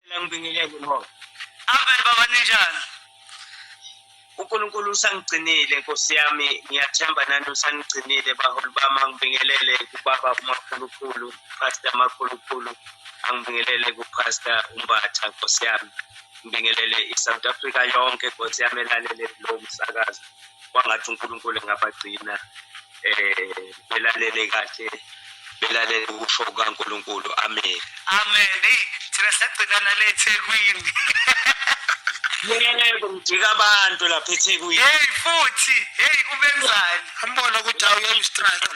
Ngicela ngibingelele ngoba abantwana baba ninjani? uNkulunkulu usangigcinile nkosi yami ngiyathemba nani usanigcinile baholi bami angibingelele kubaba umakhulukhulu pastor makhulukhulu angibingelele kupastor umbatha nkosi yami ngibingelele i-south africa yonke nkosi yami elalele lo msakazo kwangathi unkulunkulu engabagcina um belalele kahle belalele ukusho kukankulunkulu amen amen eyi thina sagcina nale ethekwini yebo ngijika abantu lapha ethekwini heyi futhi heyi ubenzani ambona ukuthi awuyolustrike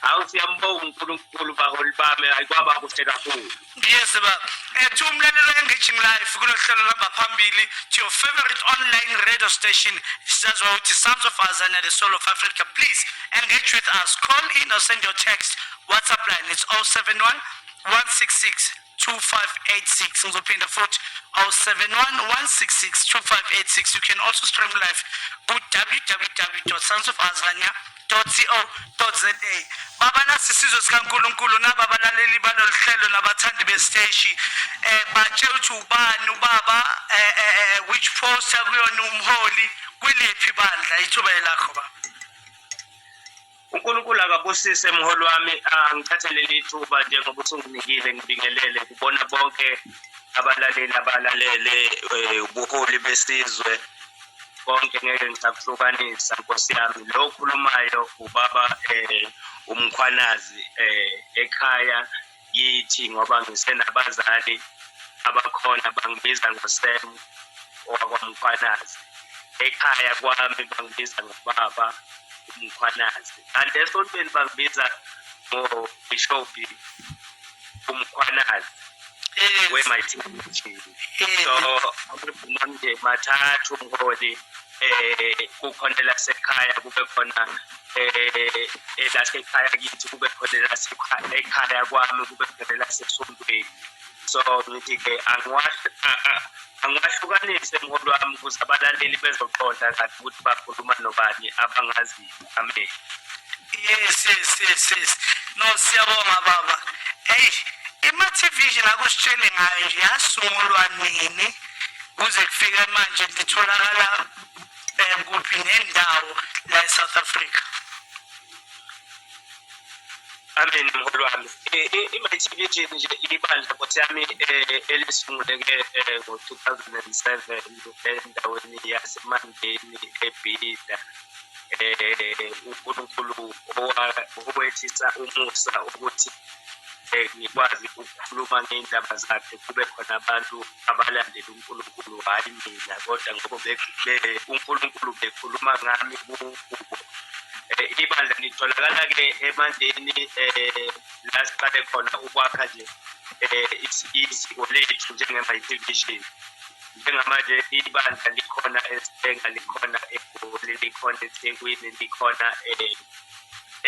hawu siyambonga unkulunkulu baholi bami ayikwaba kuhle kakhulu Yes baba. Ethi umlalelo engaging life kulohlelo lamba phambili to your favorite online radio station sisaziwa ukuthi Sons of Azania the Soul of Africa. Please engage with us. Call in or send your text. WhatsApp line it's 071 166 2586 ngizophinda futhi 071 166 2586 you can also stream live ku www.sonsofazania www.co.za baba nasi isizwe sikaNkulunkulu naba abalaleli balolu hlelo nabathandi besiteshi eh batshela ukuthi ubani ubaba eh, eh, eh, eh which post akuyona umholi kwiliphi bandla ithuba elakho baba uNkulunkulu akabusise mholi wami angithathelele ithuba njengoba usunginikile ngibingelele kubona bonke abalaleli abalalele eh, ubuholi besizwe konke ngeke ngisakuhlukanisa nkosi yami lo okhulumayo ubaba eh umkhwanazi eh ekhaya yithi ngoba ngisenabazali abakhona bangibiza ngosem owakwamkhwanazi ekhaya kwami bangibiza ngobaba umkhwanazi kanti esontweni bangibiza ngobishobhi umkhwanazi yes. wemathikithi so amabhunamnje mathathu ngoli eh kukhona elasekhaya kube khona eh elasekhaya kithi kube khona elasekhaya kwami kube khona elasesontweni so ngithi ke angiwahlukanise mholi wami ukuze abalaleli bezoqonda kahle ukuthi bakhuluma nobani abangaziyo Amen. Yes, yes, yes, yes. No, siyabonga baba. Hey, iMativision akusitshele ngayo nje yasungulwa nini kuze kufike manje litholakala um kuphi nendawo la eSouth Africa. Amen mholo wami. IMativision nje ibandla kothi yami eh, elisunguleke eh, ngo-2007 endaweni yaseMandeni eBida. eh uNkulunkulu owehlisa umusa ukuthi eh, ngikwazi ukukhuluma ngendaba zakhe kube khona abantu abalandela uNkulunkulu hayi mina kodwa ngoba uNkulunkulu bekhuluma ngami kubo eh, ibandla litholakala ke emandeni eh la siqale khona ukwakha nje eh isiko lethu njengema division njengamanje ibandla likhona esibhenga likhona egoli likhona ethekwini likhona eh,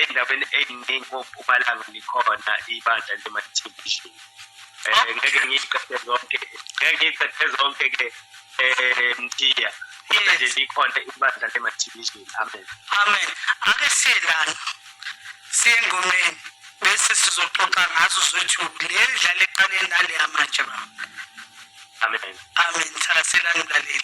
endaweni eyiningi kopumalanga likhona ibandla lematelevision um eh, ngeke ngiyiqede zonke ngeke ngiyiqede zonke ke um mthiya kodwa nje likhona ibandla lematelevision amen amen ake siye lana siye engomeni bese sizoxoxa ngazo zothi le ndlala eqaleni naleya manje baba Amen. Amen. Thakasela ngilaleli.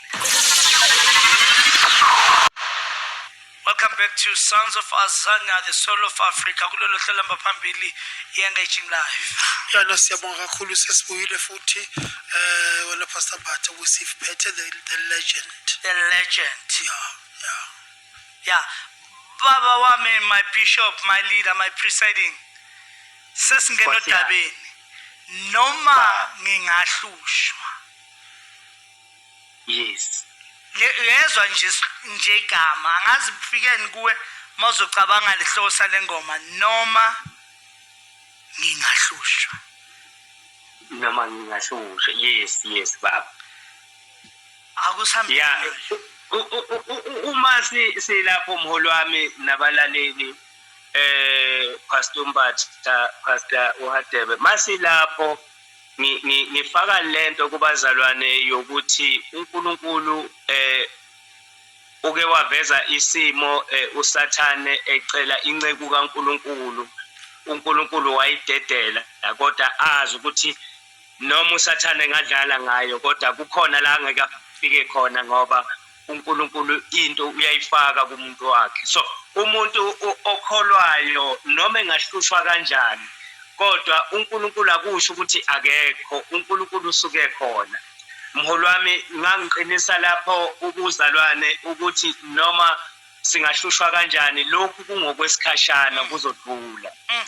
Welcome back to Sons of Azania, the Soul of Africa. Kulolo hlelo hamba phambili i-Engaging Life. Yona siyabonga kakhulu sesibuyile futhi eh wena Pastor Bathe usiphethe the, the legend. The legend. Yeah, yeah. Yeah. Baba wami, my bishop, my leader, my presiding. sesingena Nkosi yami. odabeni noma ngingahlushwa yes Le- uyezwa nje is- nje igama angazi kufikeni kuwe uma uzocabanga lesihloko sale ngoma noma ngingahlushwa noma ngingahlushwa yes yes baba akusihambile ya u- u- u- u- uma si- silapho mholi wami nabalaleli eh Pastor Mbatha Pastor uHadebe masilapho ngifaka lento kubazalwane yokuthi uNkulunkulu eh uke waveza isimo eh, usathane ecela inceku kaNkulunkulu uNkulunkulu wayidedela kodwa azi ukuthi noma usathane ngadlala ngayo kodwa kukhona la ngeke afike khona ngoba uNkulunkulu into uyayifaka kumuntu wakhe so umuntu okholwayo noma engahlushwa kanjani kodwa uNkulunkulu akusho ukuthi akekho uNkulunkulu usuke khona mholi wami ngangiqinisa lapho ubuzalwane ukuthi noma singahlushwa kanjani lokhu kungokwesikhashana kuzodlula mm.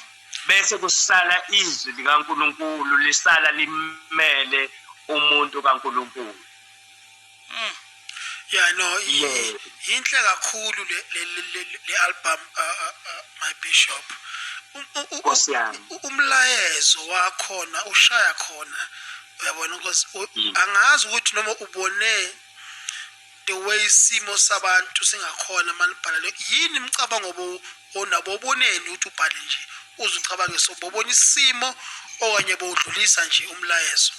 bese kusala izwi likaNkulunkulu lisala limele umuntu kaNkulunkulu Mm. Yeah no yinhle kakhulu le le album uh, uh, uh, my bishop. Um, umlayezo wakhona ushaya khona uyabona because mm. angazi ukuthi noma ubone the way isimo sabantu singakhona manibhalele yini imicabango onabo oboneni ukuthi ubhale nje uze ucabange so bobona isimo okanye bowudlulisa nje umlayezo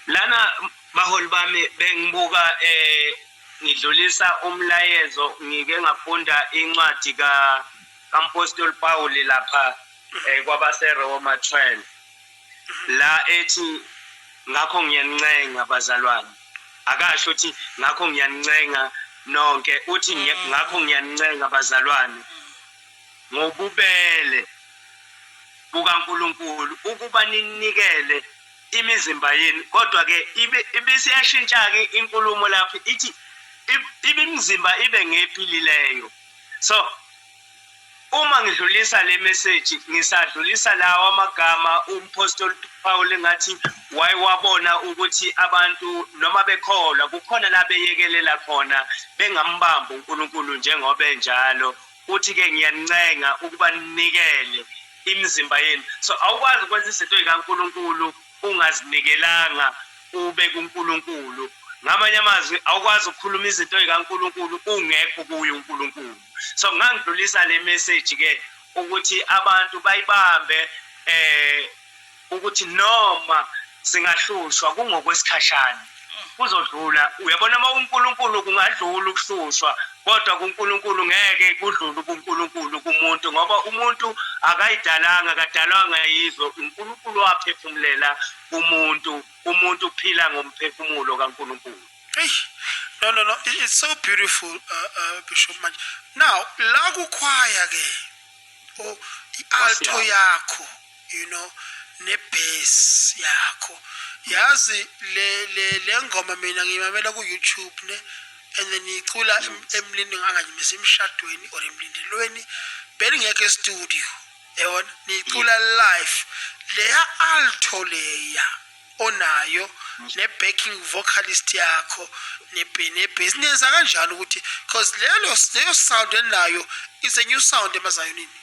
lana baholi bami bengibuka eh ngidlulisa umlayezo ngike ngafunda incwadi ka kampostoli Paul lapha eh, kwabase Roma 12 la ethi ngakho ngiyanincenga bazalwane akasho ukuthi ngakho ngiyanincenga nonke uthi ngakho ngiyanincenga bazalwane ngobubele bukaNkulunkulu ukuba ninikele imizimba yenu. Kodwa-ke ibisiyashintsha-ke inkulumo lapho ithi imizimba ibe ngephilileyo. So uma ngidlulisa le message ngisadlulisa lawa amagama umphostoli Paul ngathi wayewabona ukuthi abantu noma bekholwa kukhona la beyekelela khona bengambambi uNkulunkulu njengoba enjalo Uthi ke ngiyanincenga ukuba ninikele imizimba yenu. So awukwazi ukwenza izinto ezikaNkulunkulu ungazinikelanga ube kuNkulunkulu. Ngamanye amazwi awukwazi ukukhuluma izinto ezikaNkulunkulu ungekho kuye uNkulunkulu. So ngangidlulisa le message ke ukuthi abantu bayibambe eh ukuthi noma singahlushwa kungokwesikhashana kuzodlula uyabona uma unkulunkulu kungadlula ukuhlushwa kodwa kunkulunkulu ngeke kudlule ubunkulunkulu kumuntu ngoba umuntu akayidalanga kadalwanga yizwe unkulunkulu waphefumulela umuntu umuntu uphila ngomphefumulo kankulunkulu no no no it's so beautiful uh, uh, bishop manje now la kukhwaya ke o oh, i-alto yakho you know nebase yakho yazi le le lengoma mina ngiyimamela ku YouTube ne and then icula emlindini anganyimisa emshadweni or emlindelweni belingekho estudio yabona nicula live leya alto leya onayo ne-backing vocalist yakho nebhesi nenza kanjani ukuthi because leyo sound enayo is a new sound emazayonini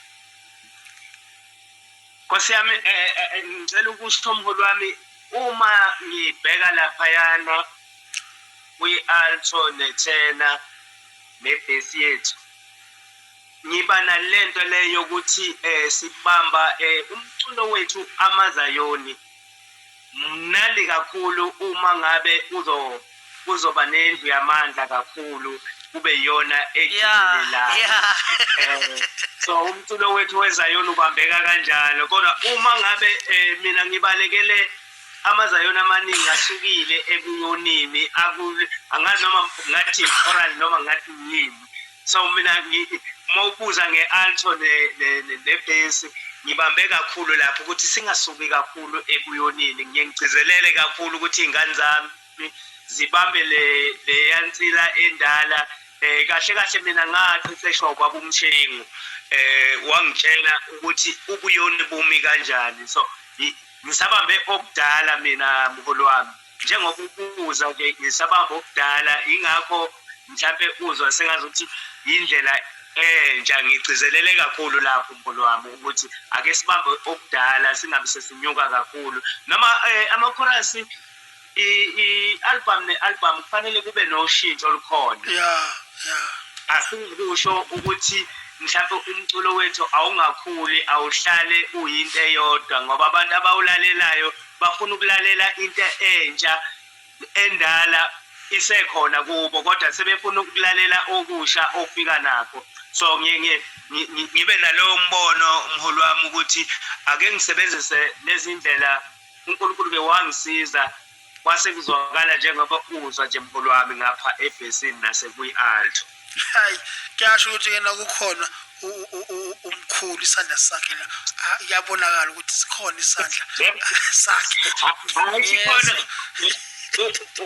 Nkosi yami eh, eh, eh, ngicela ukusho mholi wami uma ngibheka laphayana kwi-alto nethena nebhesi yethu ngiba nalento le yokuthi um sibamba um umculo wethu amazayoni Mnandi kakhulu uma ngabe uzo kuzoba nendlu yamandla kakhulu kube iyona ejikelelayo yeah, yeah. um so umculo wethu wezayoni ubambeka kanjalo kodwa uma ngabe um mina ngibalekele amazayoni amaningi asukile ebuyonini angazi noma ngathi oral noma ngathi yini so mina uma ubuza nge-alto nebhesi ngibambe kakhulu lapho ukuthi singasuki kakhulu ekuyonini ngiye ngigcizelele kakhulu ukuthi iy'ngane zami zibambe leya nsila endala um kahle kahle mina ngaqeqeshwa ubaba umshengu um wangitshela ukuthi ubuyoni bumi kanjani so ngisabambe okudala mina mholi wami njengoba ubuza nje ngisabamba obudala yingakho mhlampe uzwa sengazi ukuthi yindlela entsha ngigcizelele kakhulu lapho mkhulu wami ukuthi ake sibambe okudala singabe sesinyuka kakhulu noma eh, amakhorasi i-album ne-album kufanele kube noshintsho olukhona ya ya asingikusho ukuthi mhlawumbe umculo wethu awungakhuli awuhlale uyinto eyodwa ngoba abantu abawulalelayo Bafuna ukulalela into entsha endala isekhona kubo kodwa sebefuna ukulalela okusha ofika nakho so ngibe nalowo mbono mholi wami ukuthi ake ngisebenzise lezi ndlela unkulunkulu ke wangisiza kwase kuzwakala njengoba uzwa nje mholi wami ngapha ebhesini nasekwi-alto hayi kuyasho ukuthi yena kukhona umkhulu isandla sakhe la kuyabonakala ukuthi sikhona isandla sakhe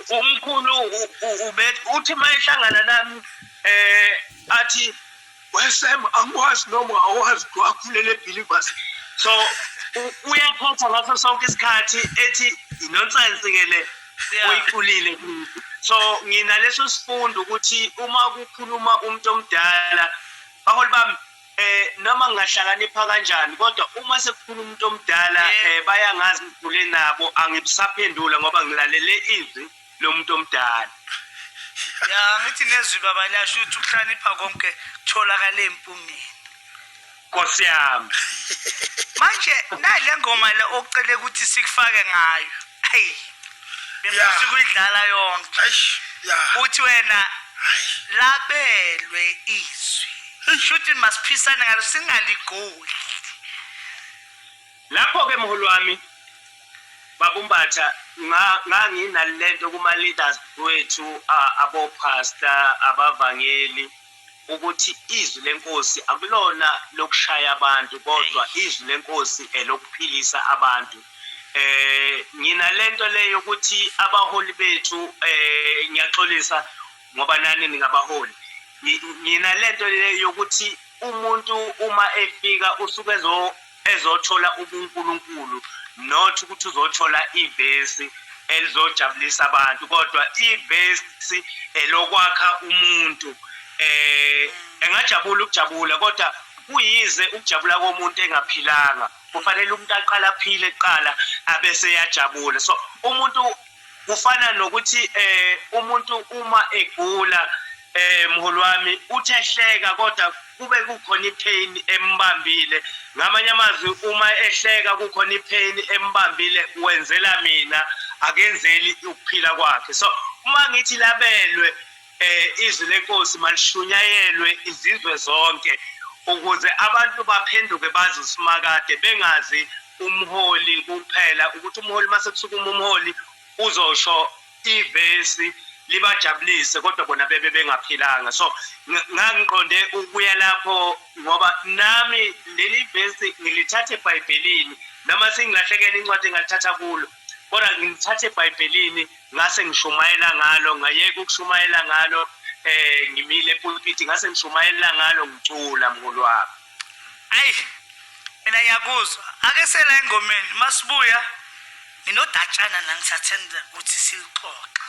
umkhulu uthi uma ehlangana nami um athi wesem angikwazi noma awazi wakhulele ebhilibas so uyaphatha ngaso sonke isikhathi ethi inonsense ke le uyiculile so nginaleso sifundo ukuthi uma kukhuluma umuntu omdala baholi bami eh noma ngingahlakanipha kanjani kodwa uma sekukhuluma umuntu omdala eh bayangazi ngigule nabo angibusaphendula ngoba ngilalele izwi lomuntu omdala ya ngithi nezwi baba lasho ukuthi ukuhlanipha konke kutholakala empungeni Nkosi yami. Manje nayi le ngoma le ocele ukuthi sikufake ngayo. Hey. Bengifisa ukuyidlala yonke. Eish. Yeah. Uthi wena labelwe izwi. Shuthi masiphisane ngalo singaligoli. Lapho ke mholi wami babumbatha nga- nganginalento kuma leaders wethu a- abopastor abavangeli ukuthi izwi lenkosi akulona lokushaya abantu kodwa izwi lenkosi elokuphilisa abantu eh ngina lento le yokuthi abaholi bethu eh ngiyaxolisa ngoba nani ningabaholi ngina lento le yokuthi umuntu uma efika usuke ezo ezothola ubunkulunkulu not ukuthi uzothola ivesi elizojabulisa abantu kodwa ivesi elokwakha umuntu eh engajabula ukujabula kodwa kuyize ukujabula komuntu engaphilanga kufanele umuntu aqala aphile kuqala abese yajabula so umuntu kufana nokuthi um umuntu uma egula um mholi wami uthi ehleka kodwa kube kukhona ipain embambile ngamanye amazwi uma ehleka kukhona ipain embambile wenzela mina akenzeli ukuphila kwakhe so uma ngithi labelwe um izwi lenkosi malishunyayelwe izizwe zonke ukuze abantu baphenduke bazi usimakade bengazi umholi kuphela ukuthi umholi uma sekusukuma umholi uzosho ivesi libajabulise kodwa bona bebe bengaphilanga so ngangiqonde ukuya lapho ngoba nami leli vesi ngilithathe ebhayibhelini noma singilahlekela incwadi engalithatha kulo kodwa ngilithatha ebhayibhelini ngase ngishumayela ngalo ngayeka ukushumayela ngalo eh ngimile epulpiti ngase ngishumayela ngalo ngicula mhulu wami ayi mina ngiyakuzwa ake sela engomeni masibuya nginodatshana la ngisathanda ukuthi silixoxe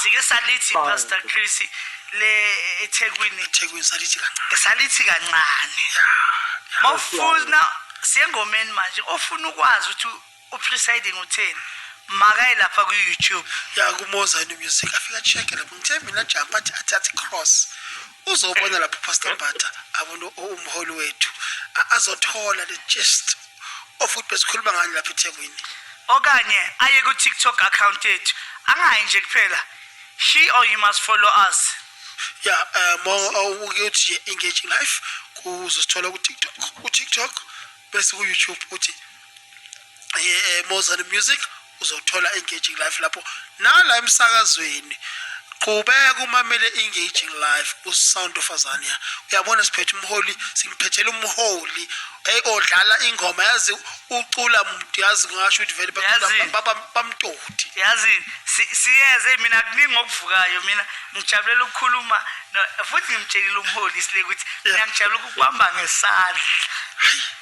sike salithi pastor chris le ethekwini ethekwini salithi kancane salithi kancane mawufuna siyengomeni manje ofuna ukwazi ukuthi upresiding utheni makaye lapha ku-youtube ya kumozani music afika check lapho ngithe mina jump athi athi athi cross uzobona lapho pastor bata abona umholi wethu A- azothola the gist of ukuthi besikhuluma ngani lapha ethekwini okanye aye ku-tiktok account yethu angayi nje kuphela she or you must follow us ya eh, um uke uthi engaging life kuzosithola kutiktok kutiktok bese kuyoutube uthi eh, Mozart Music uzothola engaging life lapho nala emsakazweni qhubeka umamele engaging life usound of azania uyabona siphethe umholi simphethela umholi hey odlala ingoma yazi ucula muntu yazi ngasho ukuthi vele bamtoti yazi siyeze mina kuningi okuvukayo mina ngijabulela ukukhuluma futhi ngimtshelile umholi sile ukuthi mina ngijabula ukukubamba ngesandla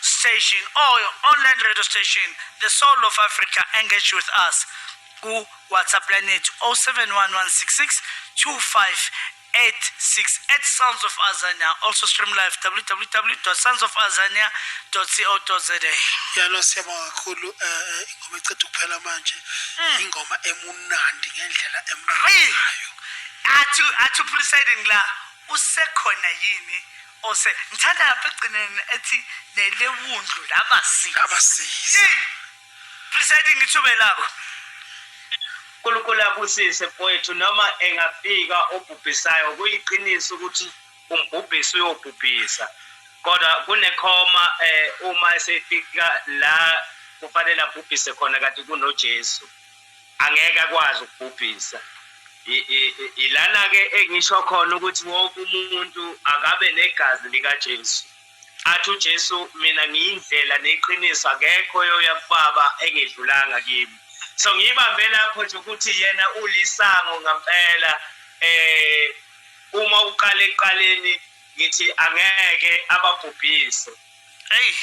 station or your online radio station the soul of africa engage with us ku-whatsapp line yethu 071166 2586 at sounds of azania also stream live www sounds of azania co za yalo siyabonga kakhulu um ingoma eceda ukuphela manje hmm. ingoma emunandi ngendlela emnandayo athi athi uphulisa idini la usekhona yini ose ngithanda lapha ekugcineni ethi nelewundlu labasizi abasizi Yey! presiding ithuba lakho unkulunkulu abusise mfowethu noma engafika obhubhisayo kuyiqiniso ukuthi umbhubhisi uyobhubhisa kodwa kunekhoma eh, uma esefika la kufanele abhubhise khona kanti kunojesu angeke akwazi ukubhubhisa ilana-ke engisho khona ukuthi wonke umuntu akabe negazi likajesu athi ujesu mina ngiyindlela neqiniso akekho oyoya kubaba engedlulanga kimi so ngiyibambe lapho nje ukuthi yena ulisango ngampela eh uma uqala ekuqaleni ngithi angeke ababhubhise eyi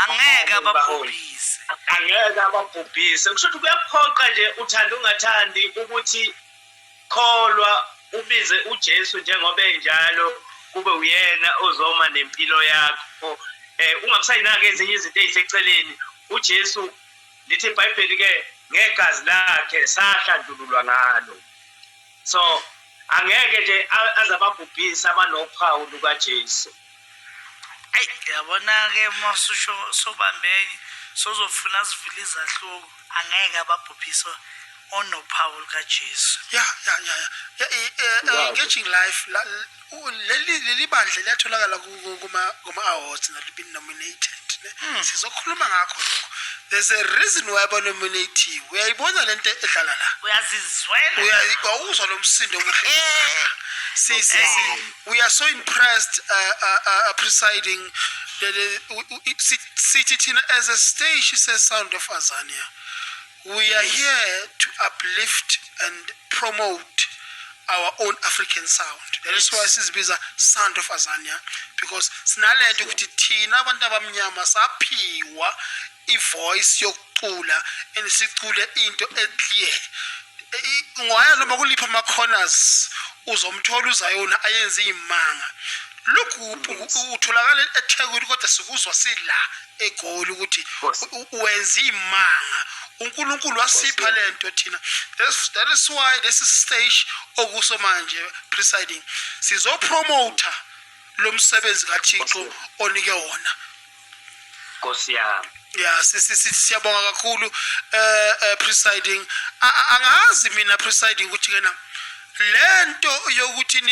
angeke ababhubhise angeke ababhubhise kusho ukuthi kuyaphoqa nje uthanda ungathandi ukuthi kholwa ubize uJesu njengoba enjalo kube uyena ozoma nempilo yakho eh ungakusayinaki ezinye izinto eziseceleni uJesu lithi iBhayibheli ke ngegazi lakhe sahlandululwa ngalo so angeke nje aze ababhubhise abanophawu lukaJesu ayi yabona-ke uma ususho sobambeke sozofuna sivile izahluko angeke ababhubhise onophawu lukaJesu ya ya ya ya engaging life leli leli bandla liyatholakala kuma-awards nalibini nominated ne hmm. sizokhuluma ngakho lokho there's a reason why banominatiwe uyayibona le nto edlala la uyazizwela uyawuzwa lo msindo omuhle we are so impressed uh, uh, uh, uh presiding sithi thina as a stage se-sound of azania We are here to uplift and promote our own African sound. That is why sizibiza Sound of Azania because sinalento ukuthi thina abantu abamnyama saphiwa ivoice yokucula and sicule into eclear. Ngoya noma kulipha ama corners uzomthola uzayona ayenza imanga. Lokhu utholakala eThekwini kodwa sikuzwa sila egoli ukuthi wenza imanga uNkulunkulu wasipha lento thina that is why this stage okuso manje presiding sizo promoter lo msebenzi kaThixo onike wona Nkosi yami ya siyabonga kakhulu eh, eh presiding angazi mina presiding ukuthi kena lento yokuthi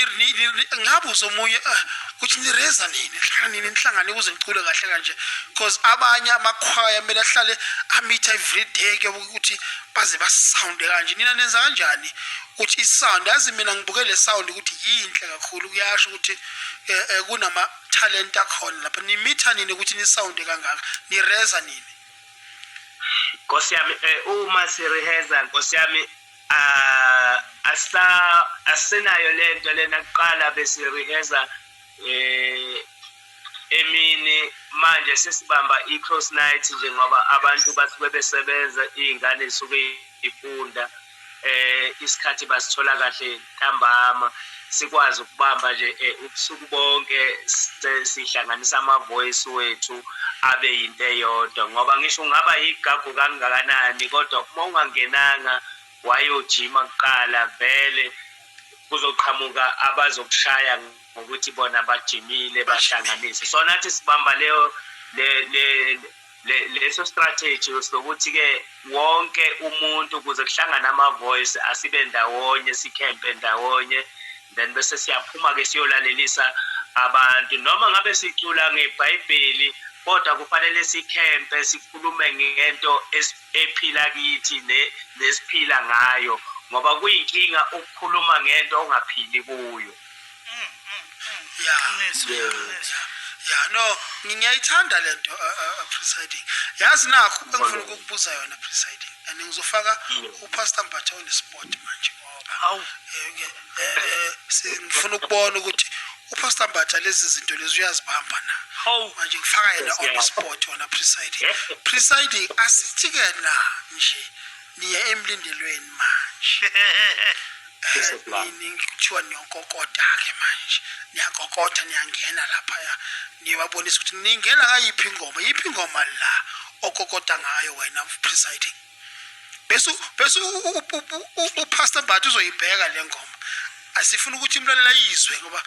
ngabe uzomunye ah, ukuthi nireza nini nihlangana nini nihlangane ukuze ngicule kahle kanje because abanye amakhwaya kumele ahlale amitha every day ke ukuthi baze basounde kanje nina nenza kanjani ukuthi isound yazi mina ngibuke le sound ukuthi yinhle kakhulu kuyasho ukuthi eh, eh, kunama talent akhona lapha nimitha nini ukuthi nisounde kangaka nireza nini Nkosi yami eh, uma sireheza Nkosi yami asisa asinayo lento lena kuqala bese rehearsa eh emini manje sesibamba i-cross night nje ngoba abantu basuke besebenza iy'ngane zisuke ifunda eh isikhathi basithola kahle ntambama sikwazi ukubamba nje eh, ubusuku bonke sihlanganisa ama-voice wethu abe yinto eyodwa ngoba ngisho ungaba yigagu kangakanani kodwa uma ungangenanga wayojima kuqala vele kuzoqhamuka abazokushaya ngokuthi bona bajimile bahlanganise so nathi sibamba leyo le, le leso strategy sokuthi-ke wonke umuntu kuze kuhlangane ama-voice asibe ndawonye sikhempe ndawonye then bese siyaphuma-ke siyolalelisa abantu noma ngabe sicula ngebhayibheli kodwa kufanele sikhempe sikhulume ngento ephila kithi nesiphila ngayo ngoba kuyinkinga ukukhuluma ngento ongaphili kuyo ya ya no ngiyayithanda le nto uh, uh, uh, presiding yazi nakho engifuna ukukubuza yona presiding and ngizofaka upastor mbatha onesport manje ngoba eh, eh, eh, ngifuna ukubona ukuthi upastor mbatha lezi zinto lezi uyazibamba na manje ngifaka yena on the spot wona presiding presiding asithi-ke na nje niye emlindelweni manje nini kuthiwa niyonkokota ke manje niyakokotha niyangena laphaya niyobabonisa ukuthi ningena ngayiphi ingoma yiphi ingoma la okokota ngayo wena presiding bese bese upastor mbatha uzoyibheka le ngoma asifuna ukuthi umlaleli ayizwe ngoba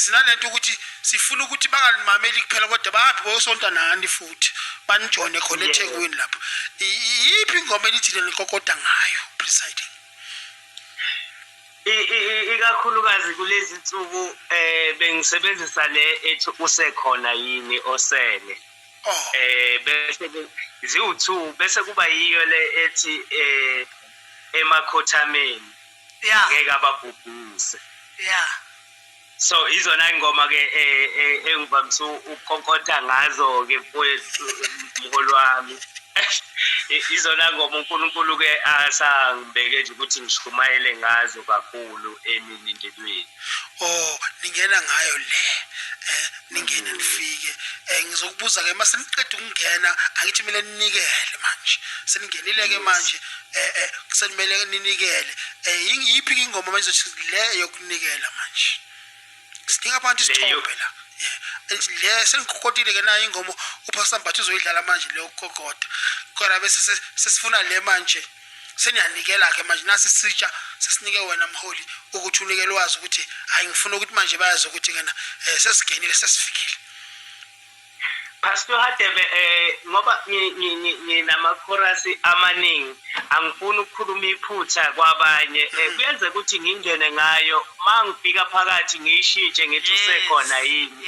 sinalento ukuthi sifuna ukuthi bangalimameli kuphela kodwa bahambe boyosonta nani futhi banijone khona ethekwini lapho iyiphi ingoma enithile nikokoda ngayo presiding ikakhulukazi kulezi nsuku um eh, bengisebenzisa le ethi usekhona yini osele um oh. eh, bese ziwu-two bese kuba yiyo le ethi um emakhothameni yeah. ngeke ababhubhise yeah so izona ingoma ke e, e, engivamisa ukukonkotha ngazo ke mfowethu mholi wami izona ngoma uNkulunkulu ke asangibeke nje ukuthi ngishumayele ngazo kakhulu eminindelweni oh ningena ngayo le eh, ningene nifike um ngizokubuza-ke uma seniqeda ukungena angithi kumele ninikele manje seningenile-ke manje um senimele ninikele um yiphi-ke ingoma manje zothi le yokunikela manje sidinga abantu isithombe la le sengikokotile-ke nayo ingoma uphasambatha uzoyidlala manje le yokukokoda kodwa bese sesifuna le manje seniyanikela ke manje nasi sitsha sesinike wena mholi ukuthi unikele wazi ukuthi hayi ngifuna ukuthi manje bayazi ukuthi kena eh, sesigenile sesifikile Pastor Hadebe eh ngoba nginamakhorasi amaningi angifuni ukukhuluma iphutha kwabanye eh, mm. kuyenze ukuthi ngingene ngayo mangifika phakathi ngiyishintshe ngithi usekhona yini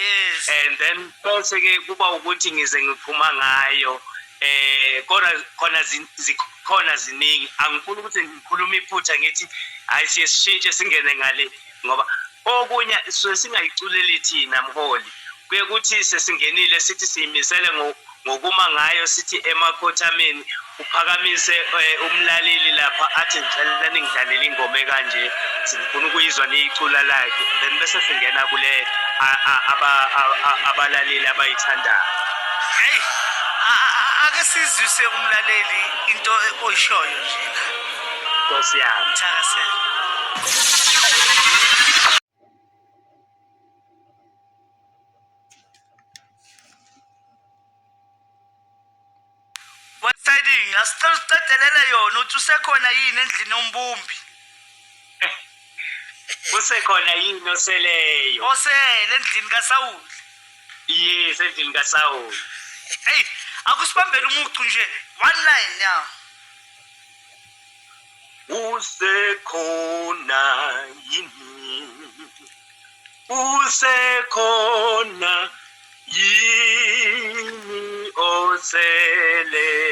and then bese ke kuba ukuthi ngize ngiphuma ngayo eh kona khona zikhona ziningi angifuni ukuthi ngikhulume iphutha ngithi hayi siye sishintshe singene ngale ngoba okunye suke singayiculeli thina mholi kuye kuthi sesingenile sithi siyimisele ngokuma ngayo sithi emakhothameni uphakamise eh, umlaleli lapha athi ngicela ningidlalele ingoma ekanje sifuna ukuyizwa niyicula lakhe then bese singena kule abalaleli abayithandayo Hey, ake sizwise umlaleli into oyishoyo nje. Nkosi yami. Thakasela. Wasidinga sicela usicedelele yona uthi usekhona yini endlini yombumbi. kusekhona yini oseleyo osele endlini kasawuli yes endlini kasawuli eyi akusibambele umucu nje one line ya usekhona yini usekhona yini oseleyo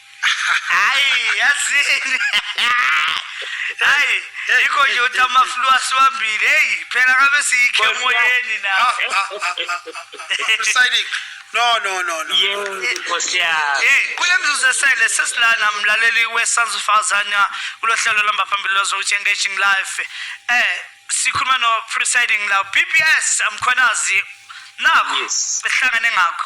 hayi yazini hayi yikho nje uthi amaflu asiwambile heyi phela kabe siyikhe emoyeni na Ah, ah, ah, ah, ah. Presiding. No, no, no, no. Yey, Nkosi yami. Eh, kule mzuzu esele sesilana mlaleli we-sons of azania kulo hlelo lomba phambili lozokutshi engaging life eh sikhuluma no-presiding la bps amkhwanazi nakho Yes. esihlangane ngakho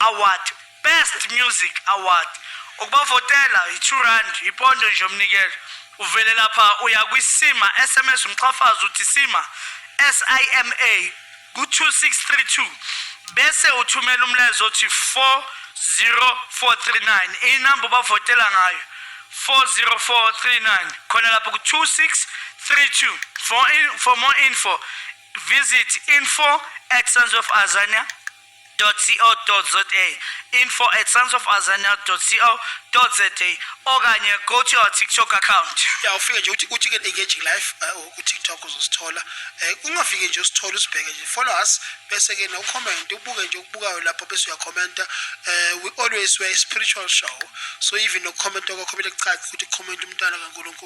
Award, Best Music Award. Ukubavotela yi-2 rand, yipondo nje umnikelo. Uvele lapha uya kwi-SIMA, SMS umqhafazi uthi SIMA, S-I-M-A, ku-2632 bese uthumela umlayezo othi 40439 inamba ubavotela ngayo 40439 khona lapho ku-2632 for, in, for more info visit info at sons of azania www.scienceofazania.co.za info at scienceofazania.co.za okanye go to our tiktok account ya ufike nje uthi uthi ke engaging life eh, ku tiktok uzosithola eh, ungafike nje usithole usibheke nje follow us bese ke no comment ubuke nje okubukayo lapho bese uyakhomenta eh, we always were a spiritual show so even no comment okho kumele kucace ukuthi comment umntana kaNkulunkulu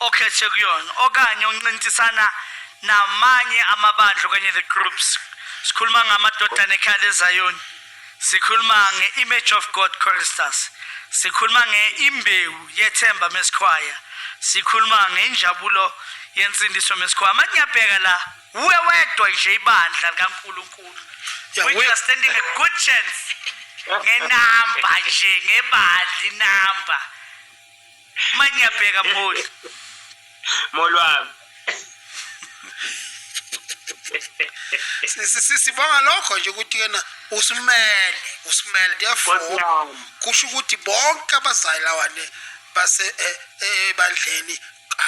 okhethe kuyona okanye oncintisana namanye amabandla okanye the groups sikhuluma ngamadodana ekhaya lezayoni sikhuluma nge-image of god choristers sikhuluma nge-imbewu yethemba mesikhwaya sikhuluma ngenjabulo yensindiso mesikhwaya manje ngiyabheka la uwe wedwa nje ibandla likankulunkulu which you are standing a good chance ngenamba nje ngebandla inamba manje ngiyabheka mholi mholi wami sibonga lokho nje ukuthi yena usimele usimele therefore kusho ukuthi bonke abazali lawane base eh, eh, ebandleni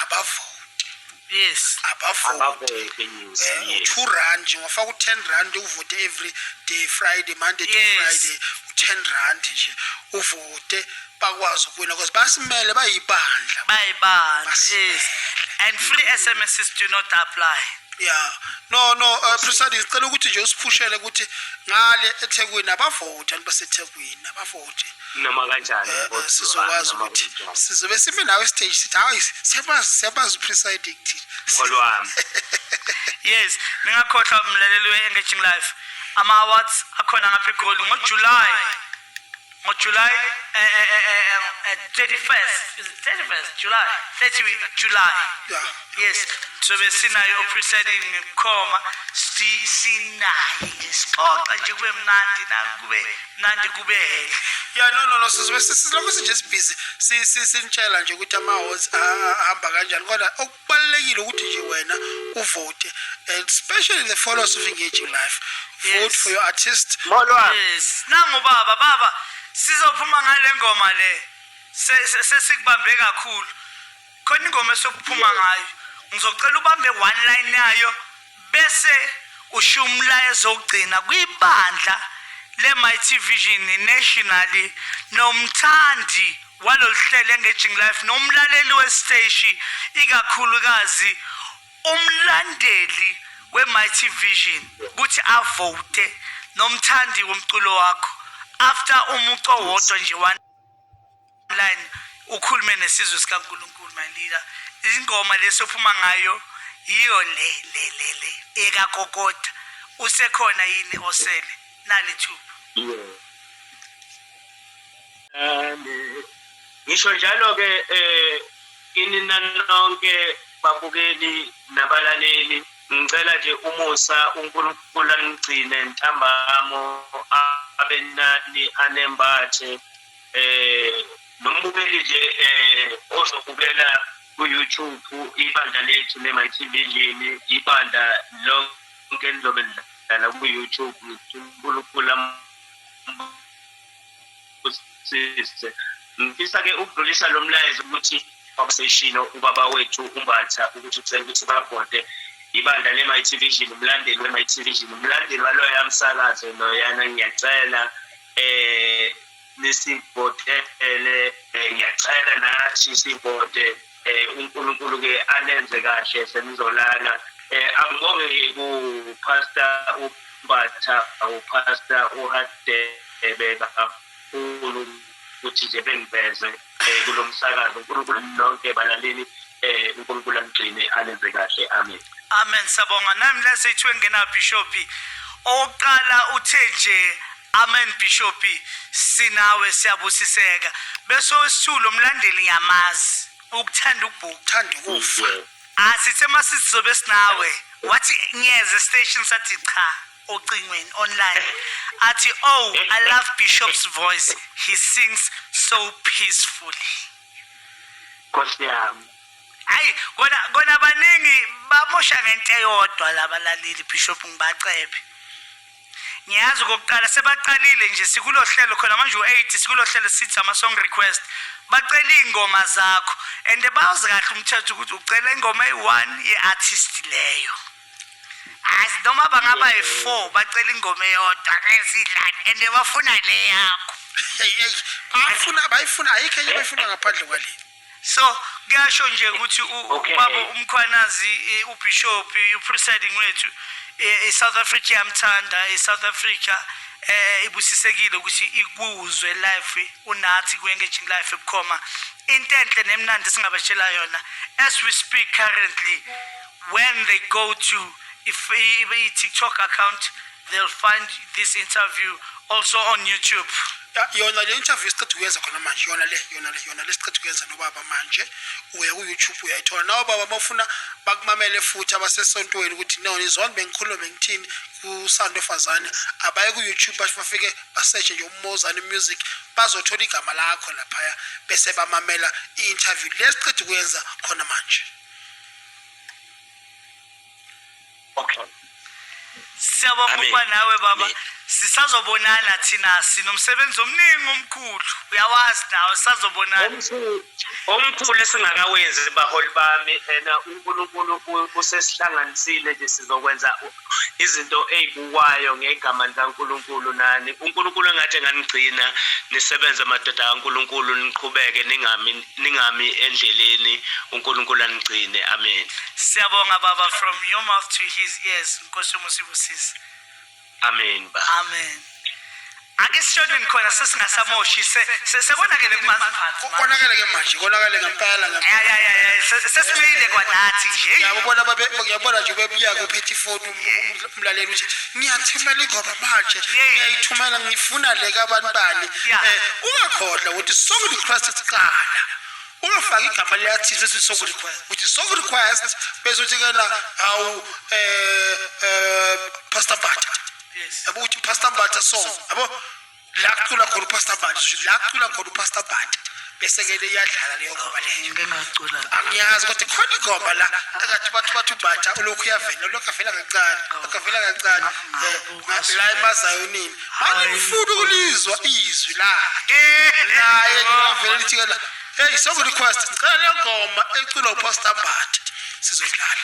abavoti yes abavoti news eh, two rand ngofaka u-ten rand uvote every day friday monday to friday u-ten rand nje uvote bakwazi ukuwina because basimele bayibandla bayibandla yes and free sms is do not apply yeah no no uh, president ngicela ukuthi nje usiphushele ukuthi ngale ethekwini abavoti abantu basethekwini abavoti noma kanjani eh, eh, sizokwazi ukuthi sizobe sime nawe stage sithi hayi siyabazi siyabazi upresiding thina ngolwami yes ningakhohlwa umlaleli we-engaging life ama-awards akhona ngapha egoli ngojuly ngojuly um 31st 31st july 30 july yeah. yes sobe sinayo oprisayidini ngebukhoma sinaye nje sixoxa nje kube mnandi nakube mnandi kube hele ya no no no sizobe sisilokhu sinje sibhizi sinitshela nje ukuthi ama-hots ahamba kanjani kodwa okubalulekile ukuthi nje wena uvote and especially the followers of engaging life vote for your artist yes nangubaba baba sizophuma ngale ngoma le sesikubambe kakhulu khona ingoma esokuphuma ngayo ngizocela ubambe one line yayo bese ushiya umlayezo ogcina kwibandla le-mighty vision nationally nomthandi walolu hlelo engaging life nomlaleli wesiteshi ikakhulukazi umlandeli we-mighty vision ukuthi avote nomthandi womculo wakho after umuco wodwa nje line ukhulume nesizwe sikaNkulunkulu malika ingoma lesophuma ngayo yiyo le le le le ekagogoda usekhona yini osele nali thuba ngisho njalo ke eh kini nanonke babukeli nabalaleli ngicela nje umusa uNkulunkulu anigcine ntambamo abenani anembathe eh nombukeli nje eh ozobukela ku-YouTube ibandla lethu le-MyTV lini ibandla lonke lizobe lidlala ku-YouTube uNkulunkulu ambusise ngifisa-ke ukudlulisa lo mlayezo ukuthi obseshino ubaba wethu umbatha ukuthi ucela ukuthi babhode ibandla le-MyTV lini umlandeli we-MyTV lini umlandeli waloya msakazo loyana ngiyacela eh nisivote ele eh, ngiyacela nathi sivote eh uNkulunkulu ke anenze kahle senizolala eh angibonge ku pastor ubatha u pastor uhadebe kakhulu ukuthi nje bengiveze um kulo msakazo unkulunkulu nonke balaleli um unkulunkulu anigcine anenze kahle amen amen sabonga nami lasethwe ngena bishophi owokuqala uthe nje amen bishophi sinawe siyabusiseka bese owesithulu lo mlandeli ngiyamazi ukuthanda ukubhuku thanda ukufa asithe masisizobe sinawe wathi ngiyeza estation sathi cha ocingweni online athi oh i love bishop's voice he sings so peacefully nkosi yami hayi kona kona baningi bamosha ngento eyodwa labalaleli bishop ngibacebe ngiyazi kokuqala sebaqalile nje sikulo hlelo khona manje u-8 sikulo hlelo sithi ama-song request bacela iy'ngoma zakho and bawazi kahle umthetho ukuthi ucela ingoma eyi-one ye-artist leyo As noma bangaba yi-four bacela ingoma eyodwa ke sidlane and bafuna le yakho. Hey hey bayifuna bayifuna ayikho enye bayifuna ngaphandle kwale. So kuyasho nje ukuthi u- Okay. ubaba umkhwanazi eh, ubishop eh, upresiding wethu eh, iSouth Africa yamthanda iSouth Africa eh ibusisekile ukuthi ikuzwe life unathi kuengaging life ebukhoma into enhle nemnandi singabatshela yona as we speak currently When they go to if a TikTok account, they'll find this interview also on YouTube. Ya- yona le interview siqeda ukuyenza khona manje yona le yona le yona le siqeda ukuyenza nobaba manje uya ku-youtube uyayithola nawo baba bafuna bakumamele futhi abasesontweni ukuthi no nizona bengikhulume ngithini kusando fazane abaye ku-youtube basho bafike baseshe nje umozane music bazothola igama lakho laphaya bese bamamela i-interview le siqeda ukuyenza khona manje okay siyabonga Amen. ukuba nawe baba Amen. sisazobonana thina sinomsebenzi omningi omkhulu uyawazi nawe sisazobonana Omkhulu- omkhulu esingakawenzi baholi bami ena unkulunkulu u- usesihlanganisile nje sizokwenza u- izinto ey'bukwayo ngegama likaNkulunkulu nani, uNkulunkulu engathi enganigcina nisebenze madoda kaNkulunkulu, niqhubeke ningami, ningami endleleni, uNkulunkulu anigcine. Amen. Siyabonga baba from your mouth to his ears Nkosi yomusa ibusise. Amen baba. Amen. Ake sishoneni khona sesingasamoshi sekonakele kumanzi. Konakele ke manje, konakele ngempela ngempela. Ya ya ya ya sesimile kwanathi nje. Ngiyabona babe ngiyabona nje bebuya kuphethe ifoni um, umlaleli uthi ngiyathumela ingoma manje. Ngiyayithumela ngifuna le kabantu bani. Eh ungakhodla ukuthi song request siqala. ungafaki igama liyathize ukuthi song request uthi song request bese uthi kena awu eh eh pastor bata yabo ukuthi upastor mbatha song yabo la kucula khona upastor mbatha la kucula khona upastor mbatha bese ke le iyadlala leyo ngoba leyo ngingacula angiyazi kodwa khona ingoma la akathi bathu bathu mbatha ulokhu uyavela ulokhu avela kancane ulokhu avela kancane eh, la emazayonini angifuni ukulizwa izwi la naye ngavela lithi la hey song request cela ngoma eculwa upastor mbatha sizodlala